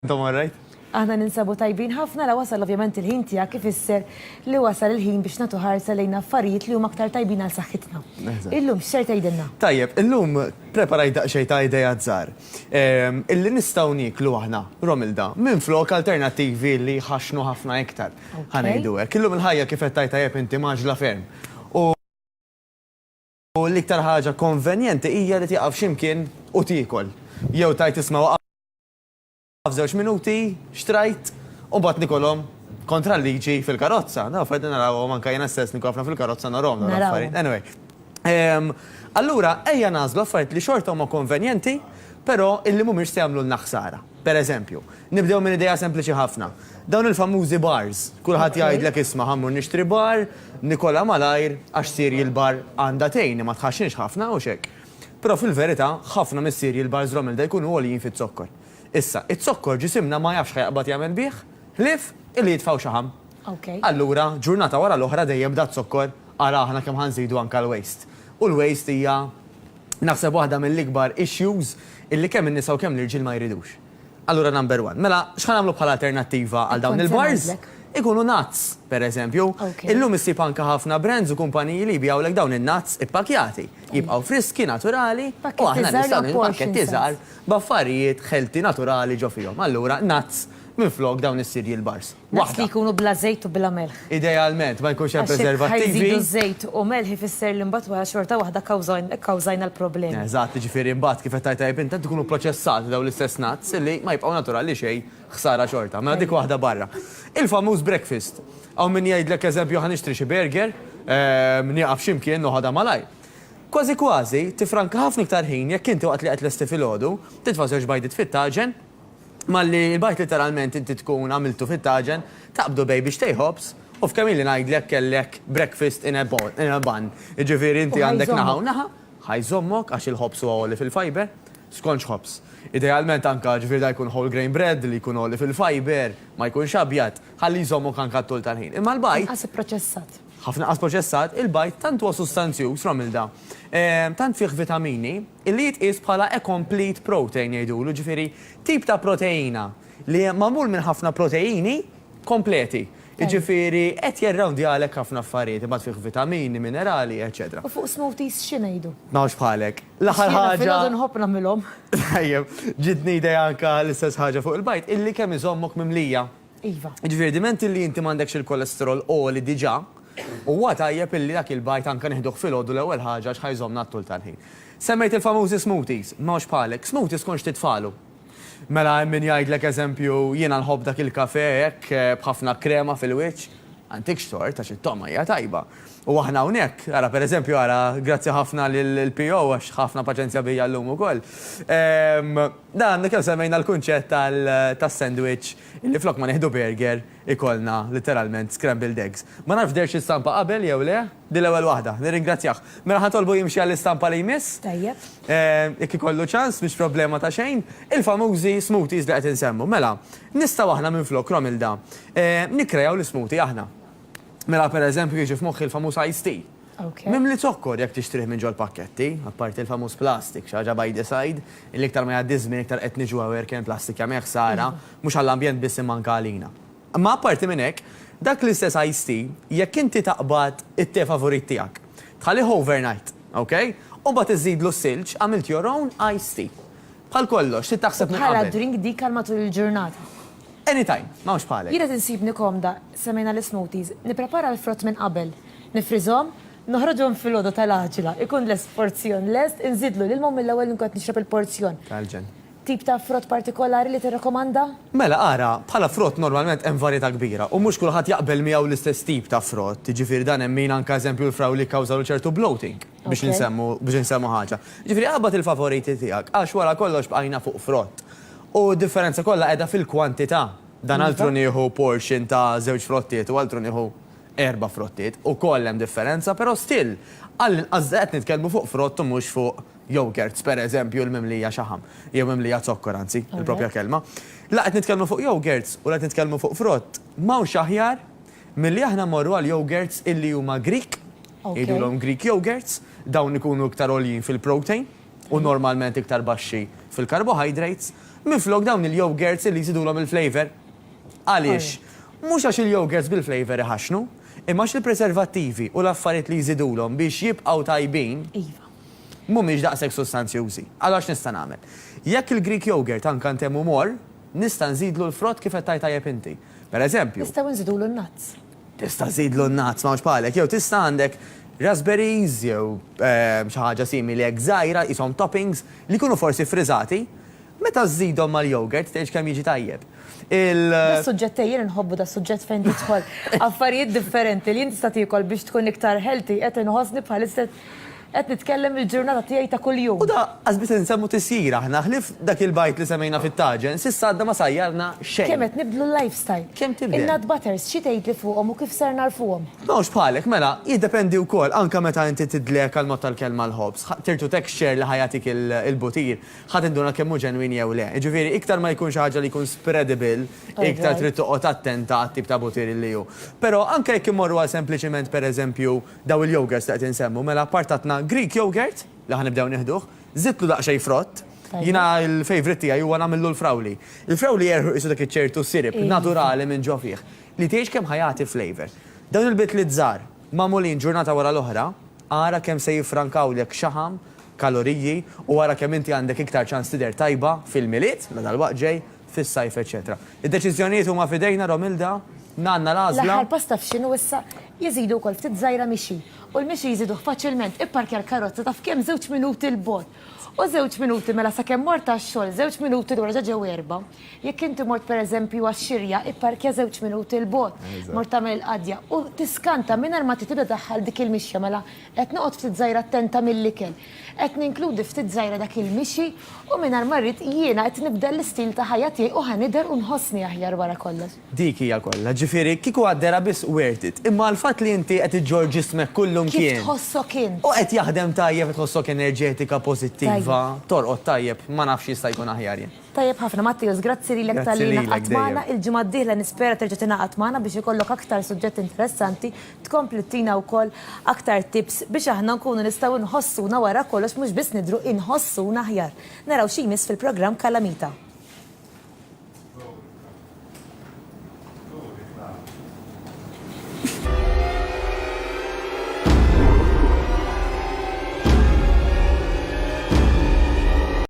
Intom all right? Aħna ninsabu tajbin ħafna la wasal ovvjament il-ħin tiegħek ifisser li wasal il-ħin biex nagħtu ħarsa lejn affarijiet li huma aktar tajbin għal saħħitna. Illum x'ser tgħidilna? Tajjeb, illum preparajt daqsxejn ta' ideat żgħar illi nistgħu nieklu aħna, Romilda, minflok alternattivi li jħaxxnu ħafna iktar, ħa ngħidu hekk. Illum il-ħajja kif qed tgħid tajjeb inti mgħaġġla ferm u l-iktar ħaġa konvenjenti hija li tieqaf xi mkien u tiekol jew tgħid isma' F'żewġ minuti xtrajt u mbagħad nikolhom kontra l-liġi fil-karozza. Naf qed narawhom anke jiena stess nikun ħafna fil-karozza narahom dawn l-affarijiet. Anyway. Ehm, allura ejja nażlu affarijiet li xorta huma konvenjenti, però illi mhumiex se jagħmlulna ħsara. Per eżempju, nibdew minn idea sempliċi ħafna. Dawn il-famużi bars, kulħadd jgħidlek isma' ħammur nixtri bar, Nikola malajr, għax sir il-bar għandha tgħin ma tħaxxinx ħafna u xek. Però fil-verità, ħafna missierji l-bars Romelda jkunu għoljin fiz-zokkor. Issa, iz-zokkor ġisimna ma jafx ħa jaqbad jagħmel bih, ħlief illi jitfgħu xaħam. Allura, ġurnata wara l-oħra dejjem bda z-zokkor, ara aħna kemm ħa nżidu anka l-waste. U l-waste hija naħseb waħda mill-ikbar issues illi kemm in-nisa u kemm l-irġiel ma jridux. Allura number one. Mela, x'ħa nagħmlu bħala alternattiva għal dawn il-bars? Ikunu nuts, per eżempju. Illum issib anke ħafna brands u kumpaniji li jbigħulek dawn in-nuts ippakjati. Jibqgħu friski, naturali, u aħna nistgħu nagħmlu pakketti żgħar b'affarijiet healthy naturali ġo fihom. Allura nuts minflok dawn is-cereal bars. Naqs li jkunu bla żejt u bla melħ. Idealment, ma jkunx hemm preservattivi. Għax jekk ħa jżidu żejt u melħ ifisser li mbagħad wara xorta waħda kkawżajna l-problemi. Eżatt, jiġifieri mbagħad kif qed tgħid tajjeb int, qed ikunu proċessati dawn l-istess nuts li ma jibqgħu naturali xejn, ħsara xorta. Mela dik waħda barra. Il-famuż breakfast. Hawn min jgħidlek eżempju ħa nixtri xi burger, nieqaf xi mkien noħodha malajr. Kważi kważi tifranka ħafna iktar ħin jekk inti waqt li qed tlesti filgħodu, titfa' żewġ bajdiet fit-taġen, Malli l-bajd litteralment inti tkun għamiltu fit-taġen, taqbdu bejn bixtej ħobż u f'kemm ili ngħidlek kellek breakfast in a bun. Jiġifieri inti għandek naħa u naħa, ħa jżommok għax il-ħobż huwa għoli fil-fiber, skont x'ħobż. Idealment anke ġifieri dan jkun whole grain bread li jkun għoli fil-fiber, ma jkunx abjad, ħalli jżommok anke għat-tul tal-ħin. Imma l-bajd. Inqas ipproċessat. Ħafna inqas proċessat, il-bajd tant huwa sustanzjuż, Romilda, tant fih vitamini, Illi jitqies bħala a complete protein jgħidulu, jiġifieri tip ta' proteina li magħmul minn ħafna proteini kompleti. Jiġifieri qed jirrawndjalek ħafna affarijiet, imbagħad fih vitamini, minerali, eċċetera. U fuq smoothies xi ngħidu? Ma nafx bħalek. L-aħħar ħaġa. Jiena filgħodu nħobb nagħmilhom. Tajjeb, ġietni idea anke l-istess ħaġa fuq il-bajd, illi kemm iżommok mimlija. Iva. Jiġifieri diment illi inti m'għandekx il-kolesterol għoli diġà, huwa tajjeb illi dak il-bajt anke nieħduh filgħodu l-ewwel ħaġa għax ħa jżommna għat-tul tal-ħin. Semmejt il-famużi smoothies, ma hux bħalek. Smoothie skont x'tit falu. Mela hemm min jgħidlek eżempju jiena nħobb dak il-kafè hekk b'ħafna krema fil-wiċċ. Ma ntikx tort għax it-togħma hija tajba. U aħna hawnhekk, ara per eżempju ara, grazzi ħafna lill-PO għax ħa ħafna paċenzja bija llum ukoll. Dan, kemm semmejna l-kunċett tas-sandwich li flok ma nieħdu burger ikollna litteralment scrambled eggs. Ma nafx dehrx l-istampa qabel jew le, din l-ewwel waħda. Nirringrazzjah. Mela ħa nitolbu jimxi għall-istampa li jmiss. Tajjeb. Jekk ikollu ċans, mhix problema ta' xejn. Il-famużi smoothies li qed insemmu. Mela, nistgħu aħna minflok, Romilda, nikkreaw l-ismoothie aħna. Mela pereżempju jiġi f'moħħi l-famuż iced tea. Mimli zokkor jekk tixtrih minn ġol-pakketti, apparti l-famuż plastik, xi ħaġa by the side, illi iktar ma jgħaddi ż-żmien iktar qed niġu aware kemm il-plastik jagħmel ħsara, mhux għall-ambjent biss imma anke għalina. Imma apparti minn hekk, dak l-istess iced tea, jekk inti taqbad it-te favorit tiegħek, tħallih overnight, ok, u mbagħad iżżidlu s-silġ, għamilt your own iced tea. Bħal kollox, trid taħseb minn qabel. U bħala drink dik għal matul il-ġurnata? Anytime, m'hawnx bħalek. Jiena tinsibni komda, semmejna l-ismoothies, nipprepara l-frott minn qabel, Nifriżhom, noħroġhom filgħodu tal-għaġla, ikun lest porzjon lest, inżidlu l-ilma u mill-ewwel inkun qed nixrob il-porzjon. Tal-ġenn. Tip ta' frott partikolari li tirrakkomanda? Mela, ara, bħala frott normalment hemm varjetà kbira u mhux kulħadd jaqbel miegħu l-istess tip ta' frott, jiġifieri dan hemm min anke eżempju l-frawli jikkawżawlu ċertu bloating, biex insemmu, biex insemmu ħaġa. Jiġifieri qabad il-favoriti tiegħek għax wara kollox bqajna fuq frott. U d-differenza kollha qiegħda fil-kwantità. Dan altru nieħu portion ta' żewġ frottiet u altru nieħu. Erba' frottiet, ukoll hemm differenza, però still, għall-inqas qed nitkellmu fuq frott u mhux fuq yogurts, pereżempju, l-mimlija xaħam, jew mimlija zokkor anzi, il-proprja kelma. La qed nitkellmu fuq yogurts u la qed nitkellmu fuq frott. M'hawnx aħjar milli aħna mmorru għal yogurts illi huma Grieg, jgħidulhom Greek yogurts, dawn ikunu iktar għoljin fil-protein u normalment iktar baxxi fil-carbohydrates, minflok dawn il-yogurts illi jżidulhom il-flavour. Għaliex? Mhux għax il-yogurts bil-flavour iħaxxnu, imma għax il-preservattivi u l-affarijiet li jżidulhom biex jibqgħu tajbin mhumiex daqshekk sustanzjużi. Allura x'nista' nagħmel? Jekk il-Greek yogurt għan kant hemm u mor, nista' nżidlu l-frott kif qed tgħid tajjeb inti. Per eżempju. Nistgħu nżidulu n-nuts. Tista' żżidlu n-nuts, m'hawnx bħalek. Jew tista' għandek raspberries jew xi ħaġa simili hekk żgħira, qishom toppings, li jkunu forsi ffriżati, Meta żżidhom mal-yogurt tgħidx kemm jiġi tajjeb. Il. Das-suġġett ej jien inħobbu das-suġġett fejn tidħol affarijiet differenti li int tista' tiekol biex tkun iktar healthy qed inħossni bħalissa qed nitkellem il-ġurnata tiegħi ta' kuljum. U da qas biss insemmu tisjir aħna, ħlief dak il-bajd li semmejna fit-taġen, s'issa għadna ma sajjarna xejn. Kemm qed nibdlu l-lifestyle. Kemm tibdel. In-nut butters xi tgħidli fuqhom u kif ser nagħrfuhom? M'hawnx bħalek, mela jiddependi wkoll anke meta inti tidlek għall-mod tal-kelma l-ħobż, tirtu texture li ħa jagħtik il-butir. ħa tinduna kemm hu ġenwin jew le. Jiġifieri, iktar ma jkun xi ħaġa li jkun spreadable, iktar trid toqgħod attenta għat-tip ta' butir li hu. Però, anke jekk immorru għal sempliċiment, per eżempju, dawn il-yogurts li qed insemmu, mela apart għandna Greek yogurt, li ħa nibdew nieħduh, żidtlu daqsxejn frott. Jiena l-favourite tiegħi huwa nagħmillu l-frawli. Il-frawli jerħu qisu dak iċ-ċertu syrup naturali minn ġo fih, li tgħidx kemm ħa jagħti flavour. Dawn il-bidliet żgħar, magħmulin ġurnata wara l-oħra, ara kemm se jiffrankawlek xaħam kaloriji u wara kemm inti għandek iktar ċans tidher tajba fil-Milied, la dalwaqt ġej, fis-Sajf eċċetera. Id-deċiżjonijiet huma f'idejna Romilda, għandna l-għażla. L-aħħar pass taf x'inhu issa? Jeżidu wkoll ftit żgħira mixi. U l-mixi jżiduh faċilment, ipparkja l-karozza taf kemm żewġ minuti 'l bogħod. U żewġ minuti mela sakemm mort għax-xogħol, żewġ minuti lura ġa ġew erbgħa. Jekk inti mort pereżempju għax-xirja, ipparkja żewġ minuti 'l bogħod. Mort tagħmel il-qadja u tiskanta mingħajr ma trid tibda ddaħħal dik il-mixja mela Qed noqgħod ftit żgħira attenta mill-ikel. Qed ninkludi ftit żgħira dak il-mixi u mingħajr ma rrid jiena qed nibdel l-istil ta' ħajja tiegħi u ħa nidher u nħossni aħjar wara kollox. Dik hija kollha, ġifieri kieku għad-dehra biss worth it. Imma għall-fatt li inti qed iġġorr ġismek kullum kien. Kif tħossok int? U qed jaħdem tajjeb, qed tħossok enerġetika, pożittiva, torqod tajjeb, ma nafx x'jista' jkun aħjar jien. Tajjeb ħafna Matteus, grazzi lilek talli ingħaqadt magħna. Il-ġimgħa d-dieħla nispera terġa' tingħaqad magħna biex ikollok aktar suġġetti interessanti Tkompli ttina wkoll aktar tips biex aħna nkunu nistgħu nħossuna wara kollox mhux biss nidhru inħossuna aħjar. Naraw xi jmiss fil-programm Kalamita.